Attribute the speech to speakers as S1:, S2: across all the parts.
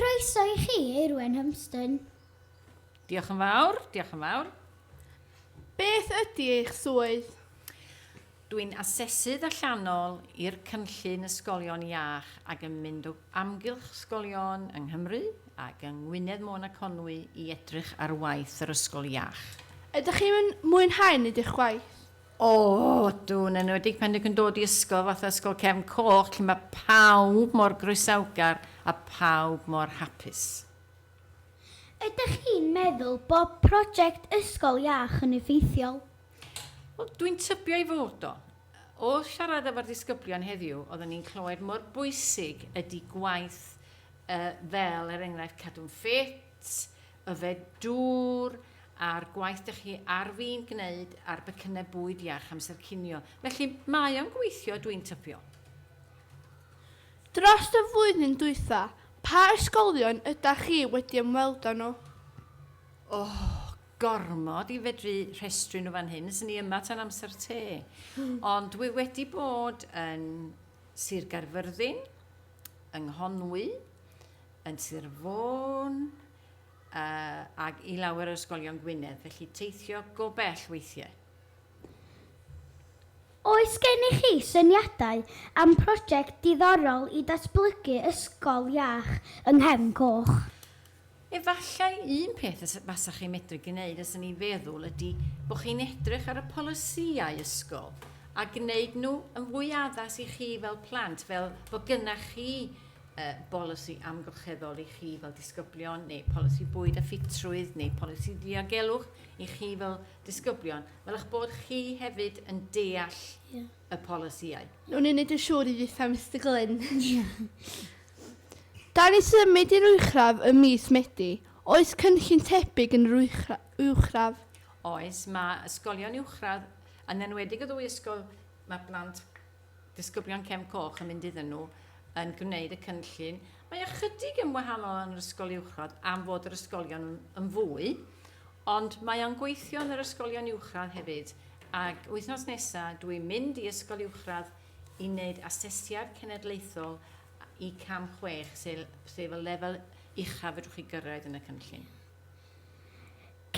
S1: Croeso i chi, Eirwen Humston. Diolch
S2: yn fawr, diolch yn fawr. Beth
S3: ydy eich swydd?
S2: Dwi'n asesydd allanol i'r cynllun Ysgolion Iach ac yn mynd o amgylch ysgolion yng Nghymru ac yng Ngwynedd Môn a Conwy i edrych ar waith yr Ysgol Iach. Ydych chi'n
S3: mwynhau neud eich gwaith? O, ydw,
S2: yn enwedig pan dych chi'n dod i ysgol fatha Ysgol Cefn Coch lle mae pawb mor groesawgar a phawb mor hapus.
S1: Ydych chi'n meddwl bod project Ysgol Iach yn effeithiol? Wel,
S2: dwi'n tybio ei fod o. Wrth siarad efo'r disgyblion heddiw, oedden ni'n clywed mor bwysig ydy gwaith fel, er enghraifft, cadw'n ffit, Yfed dŵr, a'r gwaith dych chi ar fin gwneud ar becynnau bwyd iach amser cinio. Felly, mae o'n gweithio, dwi'n tybio.
S3: Drost y flwyddyn dwytha, pa ysgolion ydach chi wedi ymweld â nhw? O,
S2: gormod i fedru rhestru nhw fan hyn, 'swn i yma tan amser te. Ond dwi wedi bod yn Sir Gaerfyrddin, yng Nghonwy, yn Sir Fôn ac i lawer o ysgolion Gwynedd, felly teithio go bell weithiau.
S1: Oes gennych chi syniadau am prosiect diddorol i datblygu ysgol iach yng Nghefn Coch? Efallai
S2: un peth y fasech chi'n medru gwneud os yn ei feddwl ydy bod chi'n edrych ar y polisïau ysgol a gwneud nhw yn fwy addas i chi fel plant fel bod gynnach chi uh, bolisi amgylcheddol i chi fel disgyblion, neu polisi bwyd a ffitrwydd, neu polisi diogelwch i chi fel disgyblion, fel eich bod chi hefyd yn deall yeah. y polisïau. Nw'n unig yn siŵr
S3: i dditha, Mr Glyn. Da ni symud i'r uwchraf ym mis Medi. Oes cynllun tebyg yn yr uwchraf? Oes,
S2: mae ysgolion uwchradd, yn enwedig y ddwy ysgol, mae plant disgyblion Cefn Coch yn mynd iddyn nhw yn gwneud y cynllun. Mae ychydig yn wahanol yn yr ysgol uwchradd am fod yr ysgolion yn fwy, ond mae o'n gweithio yn yr ysgolion uwchradd hefyd. Ac wythnos nesaf dwi'n mynd i ysgol uwchradd i wneud asesiad cenedlaethol i cam chwech, sef y lefel uchaf fedrwch chi gyrraedd yn y cynllun.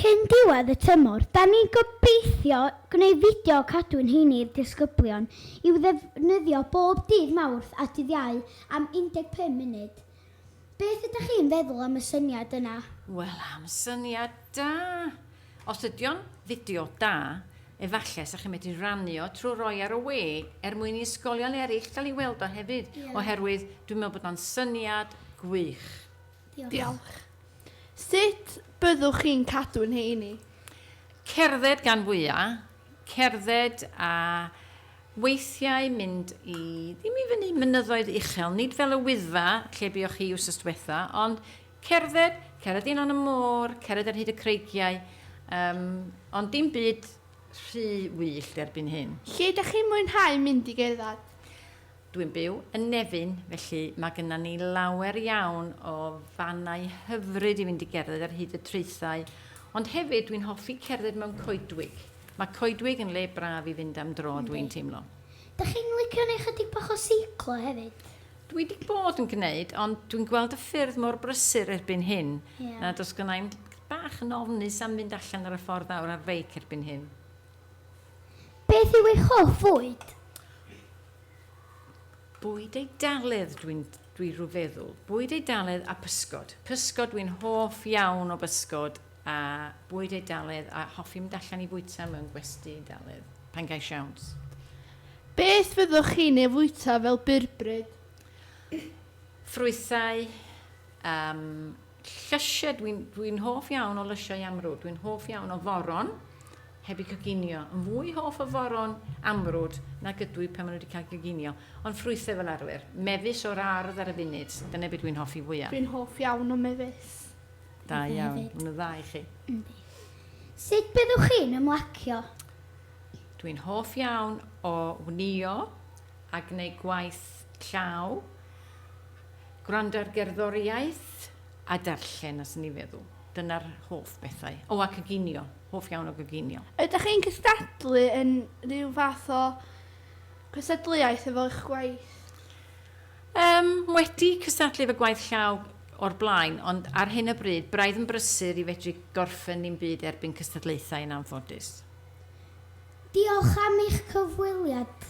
S1: Cyn diwedd y tymor, 'da ni'n gobeithio gwneud fideo cadw'n heini i'r disgyblion i'w ddefnyddio bob dydd Mawrth a dydd Iau am 15 munud. Beth ydych chi'n feddwl am y syniad yna? Wel am
S2: syniad da! Os ydy o'n fideo da, efallai 'sa chi'n medru rannu o trwy roi ar y we er mwyn i ysgolion eraill gael ei weld o hefyd, oherwydd dwi'n meddwl bod o'n syniad gwych. Diolch.
S3: Diolch. Sut byddwch chi'n cadw'n heini? Cerdded
S2: gan fwya', cerdded a weithiau mynd i, ddim i fyny mynyddoedd uchel, nid fel y Wyddfa lle buoch chi wsos dwetha, ond cerdded, cerdded i lan y môr, cerdded ar hyd y creigiau, um, ond dim byd rhy wyllt erbyn hyn. Lle ydych chi'n mwynhau
S3: mynd i gerdded? Dwi'n
S2: byw yn Nefyn, felly mae gyda ni lawer iawn o fannau hyfryd i fynd i gerdded ar hyd y traethau, ond hefyd dwi'n hoffi cerdded mewn coedwig. Mae coedwig yn le braf i fynd am dro, dwi'n teimlo. Dych chi'n licio
S1: neu chydig bach o seiclo hefyd? Dwi wedi bod
S2: yn gwneud, ond dwi'n gweld y ffyrdd mor brysur erbyn hyn, yeah. na dos gynnau i'n bach yn ofnus am fynd allan ar y ffordd awr ar feic erbyn hyn.
S1: Beth yw eich hoff fwyd?
S2: Bwyd Eidaledd dwi'n dwi rhyw feddwl. Bwyd Eidaledd a pysgod. Pysgod dwi'n hoff iawn o bysgod a bwyd Eidaledd a hoffi mynd allan i fwyta mewn gwesty Eidaledd pan gai siawns. Beth
S3: fyddwch chi'n ei fwyta fel byrbryd? Ffrwythau,
S2: yym, Llysiau, dwi'n dwi hoff iawn o lysiau amrwd, dwi'n hoff iawn o foron, heb i coginio. Yn fwy hoff o foron amrwd nag ydw i pan maen nhw wedi cael coginio. Ond ffrwythau fel arfer, mefus o'r ardd ar y funud, dyna beth dwi'n hoffi fwyaf. Dwi'n hoff iawn o
S3: mefus. Da iawn,
S2: mae'n dda i chi. Yndi.
S1: Sut byddwch chi'n ymlacio?
S2: Dwi'n hoff iawn o wnio a gwneud gwaith llaw. Gwrando ar gerddoriaeth a darllen, os ni feddwl. Dyna'r hoff bethau. O, a coginio. Hoff iawn o goginio. Ydych chi'n cystadlu
S3: yn rhyw fath o
S2: gystadleuaeth
S3: efo eich
S2: gwaith? Yym, wedi cystadlu
S3: efo gwaith
S2: llaw o'r blaen, ond ar hyn o bryd, braidd yn brysur i fedru gorffen dim byd erbyn cystadlaethau yn anffodus.
S1: Diolch am eich cyfweliad.